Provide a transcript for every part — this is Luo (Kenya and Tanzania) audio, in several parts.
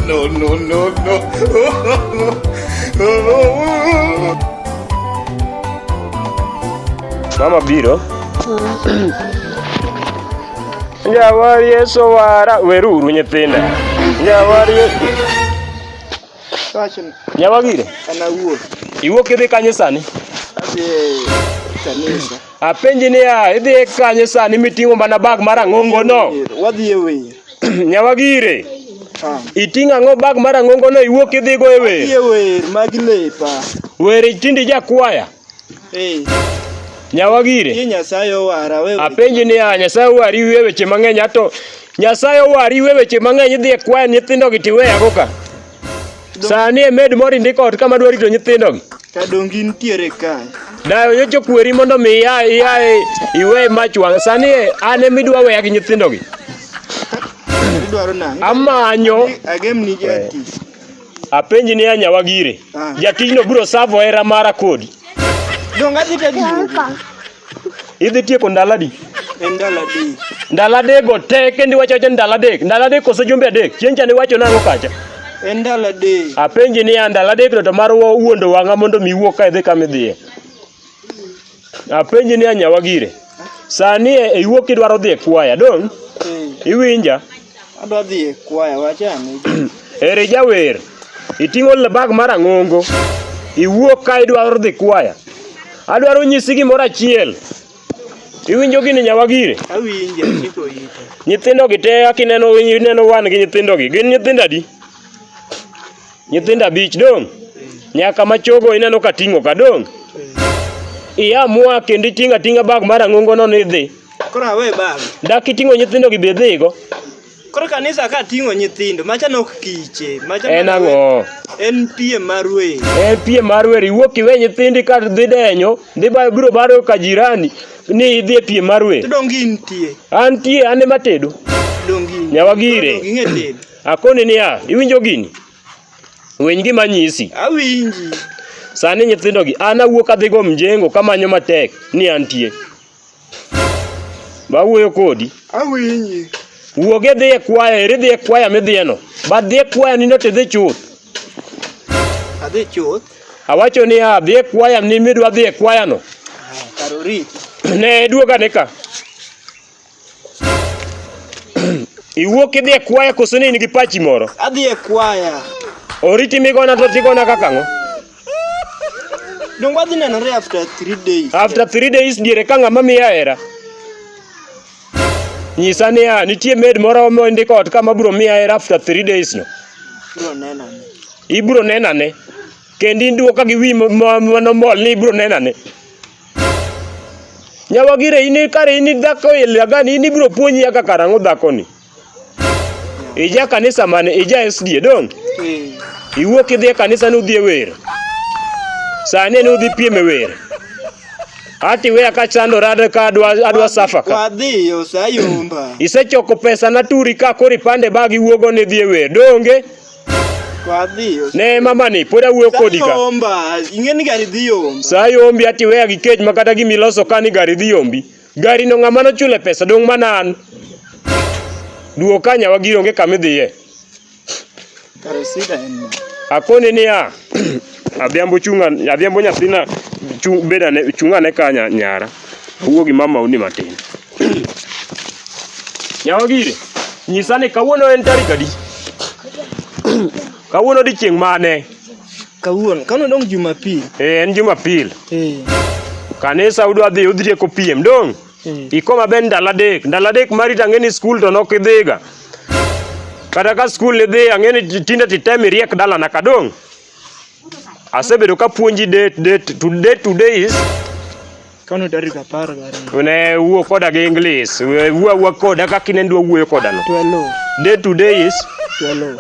no, no, no, no. Mama Biro. Nyawar Yesu wara weruru nyithinda. Nyawar Yesu. Nyawagire. Ana wuo. Iwuok idhi kanye sani? Adhi kanisa. Apenji niya, idhi e kanye sani miting'o mana bag mar ang'ongo no? Wadhi e wer. Nyawagire. Ah. Iting'o ang'o bag mar ang'ongo no iwuok idhi go e wer? Wadhi e wer magi lepa. Wer tindi jakwaya. Eh. Nyawagire. Ye Nyasaye owara wewe. Apenji niya, Nyasaye owari wiye weche mang'eny ato Nyasaye owari wiye weche mang'eny idhi e kwaya nyithindo gi tiweyago ka. Sani e med moro indiko ot kama dwa rito nyithindogi. Kadongi nitiere kae. Dayo nyocha okweri mondo mi ia ia iwe mach wang'. Sani e an ema idwa weya gi nyithindogi. Idwaro nang'o? Amanyo Agemni jati. apenji ni anyawa gire. Ah. Jatijno biro savo hera mara kodi. Donga dhi tadi. Idhi tieko ndalo adi? En ndalo adek. Ndalo adek go te kendo iwacho acha ndalo adek. Ndalo adek kose jumbe adek. Chieng' cha niwacho nang'o kacha? En ndalo adek. Apenji niya ndalo adek no to mar wa- wuondo wang'a mondo mi iwuog ka idhi kama idhiye. Apenji niya nyawa gire. Sani e iwuok kidwaro dhi e kwaya dong' Eh. iwinja. Adwa dhi e kwaya wachane. Eri jawer, iting'o bag mar ang'ongo, iwuok ka idwaro dhi kwaya. Adwaro nyisi gimoro achiel. Iwinjo gini nyawagire? Awinje, chiko ite. Nyithindo gi te akineno ineno wan gi nyithindo gi. Gin nyithindo adi? Nyithindo abich dong'. Nyaka ma chogo ineno ka ting'o ka dong'. Iya mua kendo iting'a ting'a bag mar ang'ongo no ni dhi. Koro awe bag. Dak iting'o nyithindo gi be dhigo. Koro kanisa ka ting'o nyithindo, macha nok kiche, macha En ang'o? En piem mar wer. En piem mar wer, iwuok iwe nyithindi ka dhi denyo, dhi bayo biro baro ka jirani ni idhi e piem mar wer. Dongi nitie. Antie, an ema tedo. Dongi. Nyawa gire. Dongi ng'e tedo. Akoni niya, iwinjo gini? Winy gima anyisi. Awinji. Sani nyithindogi, an awuok adhigo mjengo kamanyo matek ni antie. Bawuoyo kodi. Awinji. Wuog idhi e kwaya, eri dhi e kwaya midhiyeno. But dhi e kwaya nindo to idhi chuth. Adhi chuth. Awacho niya, dhi e kwaya ni midwa dhi e kwayano. Kar oriti. Ne duoga ni ka. Iwuok idhi e kwaya koso ni in gi pachi moro? Adhi e kwaya. Oriti migona to tigona kaka ang'o? Donge wadhi nenore after three days. After three days diere ka ng'ama miya hera. Nyisa niya, nitie med moro mondiko ot kama bro miya hera after three days no. Bro nena ne. Ibro nena ne. Kendi duoka gi wi mano mol ni ibro nena ne. Nyawagire in kare in dhako ilagani in ibiro puonji kaka karang'o dhakoni. Ija kanisa mane ija SDA dong'. Iwuok idhi e kanisa ni udhi e wer. Sani ni udhi piem e wer. Ati weya ka chandora de ka adwa adwa safa ka. Wadhi osayomba. Isechoko pesa na turi ka kori pande bag iwuogo ni dhi e wer. Donge? Ne mama ni pod awuoyo kodi ka. Ing'eni gari dhi yombi. Sa yombi ati weya gi kech ma kata gimi loso ka ni gari dhi yombi. Gari no ng'ama nochule pesa dong' mana an. Duo kanya wagiri onge kama idhiye. Kare sida en ma. Akoni niya. Adhiambo chunga, adhiambo nyathina chunga beda ne chunga ne kanya nyara. Awuo gi mama uni matin. Nyawa gire, nyisa ni kawuono en tarik adi? Kawuono odiechieng' mane? Kawuono, kawuono dong Jumapil. Eh, en Jumapil. Eh. Kanisa udwa dhi udhieko piem dong'. Eh. Iko maber ndalo adek, ndalo adek mari to ang'eni skul to nok idhiga. Kata ka skul idhi ang'eni tinde titem iriek dalana ka dong'. Asebedo ka puonji date date to date today is kano tarik apar gariyo ne wuo koda gi English wuo wuo koda kaka ne ndwa wuoyo koda no 12 day to day is 12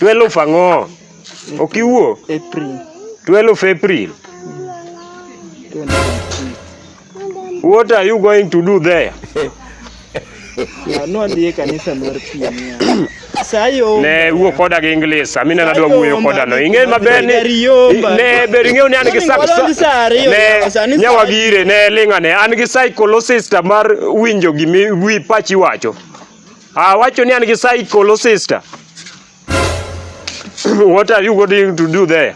12 ang'o ok iwuo April 12 April 20. What are you going to do there? Nwadhi e kanisa mar piem. Sayo. Ne wuo koda gi English. Amina nadwa wuoyo koda no. Ing'e maber ni ne ber ing'eyo ni an gi saksa. Ne nyawa gire ne linga ne an gi psychologist mar winjo gimi wi pachi wacho. Ah wacho ni an gi psychologist. What are you going to do there?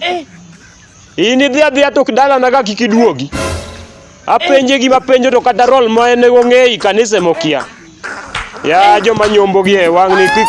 Eh. In idhi adhiya to kidala na ka kik iduogi. Apenje gima penjo to kata rol ma en go ng'eyi kanise mokia. Ya joma nyombo gi e wang' ni kik